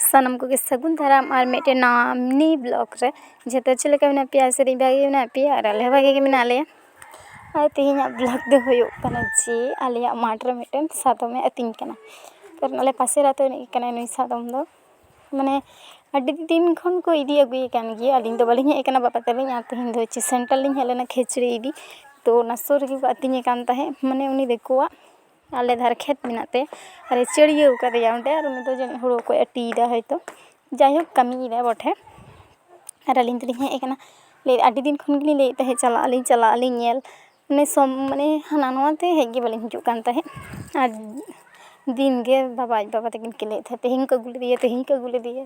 ᱥᱟᱱᱟᱢ ᱠᱚᱜᱮ ᱥᱟᱹᱜᱩᱱ ᱫᱟᱨᱟᱢ ᱟᱨ ᱢᱤᱫᱴᱮᱱ ᱱᱟᱣᱟ ᱢᱤᱱᱤ ᱵᱞᱚᱠ ᱨᱮ ᱡᱷᱚᱛᱚ ᱪᱮᱫ ᱞᱮᱠᱟ ᱢᱮᱱᱟᱜ ᱯᱮᱭᱟ ᱥᱮ ᱵᱷᱟᱜᱮ ᱜᱮ ᱢᱮᱱᱟᱜ ᱯᱮᱭᱟ ᱟᱨ ᱟᱞᱮ ᱦᱚᱸ ᱵᱷᱟᱜᱮ ᱜᱮ ᱢᱮᱱᱟᱜ ᱞᱮᱭᱟ ᱟᱨ ᱛᱮᱦᱮᱧᱟᱜ ᱵᱞᱚᱠ ᱫᱚ ᱦᱩᱭᱩᱜ ᱠᱟᱱᱟ ᱡᱮ ᱟᱞᱮᱭᱟᱜ ᱢᱟᱴᱷ ᱨᱮ ᱢᱤᱫᱴᱮᱱ ᱥᱟᱫᱚᱢᱮ ᱟᱹᱛᱤᱧ ᱠᱟᱱᱟ ᱠᱟᱨᱚᱱ ᱟᱞᱮ ᱯᱟᱥᱮᱨ ᱟᱛᱳ ᱨᱤᱱᱤᱡ ᱜᱮ ᱠᱟᱱᱟᱭ ᱱᱩᱭ ᱥᱟᱫᱚᱢ ᱫᱚ ᱢᱟᱱᱮ ᱟᱹᱰᱤ ᱫᱤᱱ ᱠᱷᱚᱱ ᱠᱚ ᱤᱫᱤ ᱟᱹᱜᱩᱭᱮ ᱠᱟᱱ ᱜᱮᱭᱟ ᱟᱹᱞᱤᱧ ᱫᱚ ᱵᱟᱹᱞᱤᱧ ᱦᱮᱡ ᱠᱟᱱᱟ ᱵᱟᱵᱟ ᱛᱟᱹᱞᱤᱧ ᱟᱨ ᱛᱮᱦᱮᱧ ᱫᱚ ᱦᱚᱪᱪᱷᱮ ᱥᱮᱱᱴᱟᱨ ᱞᱤᱧ ᱦᱮᱡ ᱞᱮᱱᱟ ᱠᱷᱤᱪᱲᱤ ᱤᱫᱤ ᱛᱚ ᱚᱱᱟ ᱥᱩᱨ ᱨᱮᱜᱮ ᱠᱚ ᱟᱹᱛᱤᱧᱮ ᱠᱟᱱ ᱛᱟᱦᱮᱸᱜ ᱢᱟᱱᱮ ᱩᱱᱤ ᱫᱤᱠᱩᱣᱟᱜ ᱟᱞᱮ ᱫᱷᱟᱨᱮ ᱠᱷᱮᱛ ᱢᱮᱱᱟᱜ ᱛᱮ ᱟᱨᱮ ᱪᱟᱹᱲᱭᱟᱹᱣ ᱠᱟᱫᱮᱭᱟ ᱚᱸᱰᱮ ᱟᱨ ᱩᱱᱤ ᱫᱚ ᱡᱟᱹᱱᱤᱡ ᱦᱳᱲᱳ ᱠᱚᱭ ᱟᱹᱴᱤᱭᱮᱫᱟ ᱦᱳᱭᱛᱳ ᱡᱟᱭᱦᱳᱠ ᱠᱟᱹᱢᱤᱭᱮᱫᱟᱭ ᱵᱚᱴᱷᱮ ᱟᱨ ᱟᱹᱞᱤᱧ ᱫᱚᱞᱤᱧ ᱦᱮᱡ ᱠᱟᱱᱟ ᱞᱟᱹᱭᱫᱟᱭ ᱟᱹᱰᱤ ᱫᱤᱱ ᱠᱷᱚᱱ ᱜᱮᱞᱤᱧ ᱞᱟᱹᱭᱮᱫ ᱛᱟᱦᱮᱸᱜ ᱪᱟᱞᱟᱜ ᱟᱹᱞᱤᱧ ᱪᱟᱞᱟᱜ ᱟᱹᱞᱤᱧ ᱧᱮᱞ ᱢᱟᱱᱮ ᱥᱚᱢ ᱢᱟᱱᱮ ᱦᱟᱱᱟ ᱱᱚᱣᱟ ᱛᱮ ᱦᱮᱡ ᱜᱮ ᱵᱟᱹᱞᱤᱧ ᱦᱤᱡᱩᱜ ᱠᱟᱱ ᱛᱟᱦᱮᱸᱜ ᱟᱨ ᱫᱤᱱ ᱜᱮ ᱵᱟᱵᱟ ᱟᱡ ᱵᱟᱵᱟ ᱛᱟᱹᱠᱤᱱ ᱠᱤᱱ ᱞᱟᱹᱭᱮᱫ ᱛᱟᱦᱮᱸᱜ ᱛᱮᱦᱮᱧ ᱠᱚ ᱟᱹᱜᱩ ᱞᱮᱫᱮᱭᱟ ᱛᱮᱦᱮᱧ ᱠᱚ ᱟᱹᱜᱩ ᱞᱮᱫᱮᱭᱟ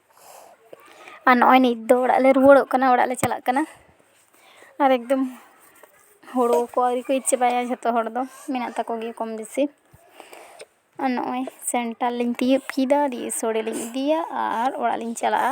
ᱟᱨ ᱱᱚᱜᱼᱚᱭ ᱱᱤᱛ ᱫᱚ ᱚᱲᱟᱜ ᱞᱮ ᱨᱩᱣᱟᱹᱲᱚᱜ ᱠᱟᱱᱟ ᱚᱲᱟᱜ ᱞᱮ ᱪᱟᱞᱟᱜ ᱠᱟᱱᱟ ᱟᱨ ᱮᱠᱫᱚᱢ ᱦᱳᱲᱳ ᱠᱚ ᱟᱹᱣᱨᱤ ᱠᱚ ᱤᱨ ᱪᱟᱵᱟᱭᱟ ᱡᱷᱚᱛᱚ ᱦᱚᱲ ᱫᱚ ᱢᱮᱱᱟᱜ ᱛᱟᱠᱚ ᱜᱮᱭᱟ ᱠᱚᱢ ᱵᱮᱥᱤ ᱟᱨ ᱱᱚᱜᱼᱚᱭ ᱥᱮᱱᱴᱟᱨ ᱞᱤᱧ ᱛᱤᱭᱳᱜ ᱠᱮᱫᱟ ᱫᱤᱭᱮ ᱥᱳᱲᱮ ᱞᱤᱧ ᱤᱫᱤᱭᱟ ᱟᱨ ᱚᱲᱟᱜ ᱞᱤᱧ ᱪᱟᱞᱟᱜᱼᱟ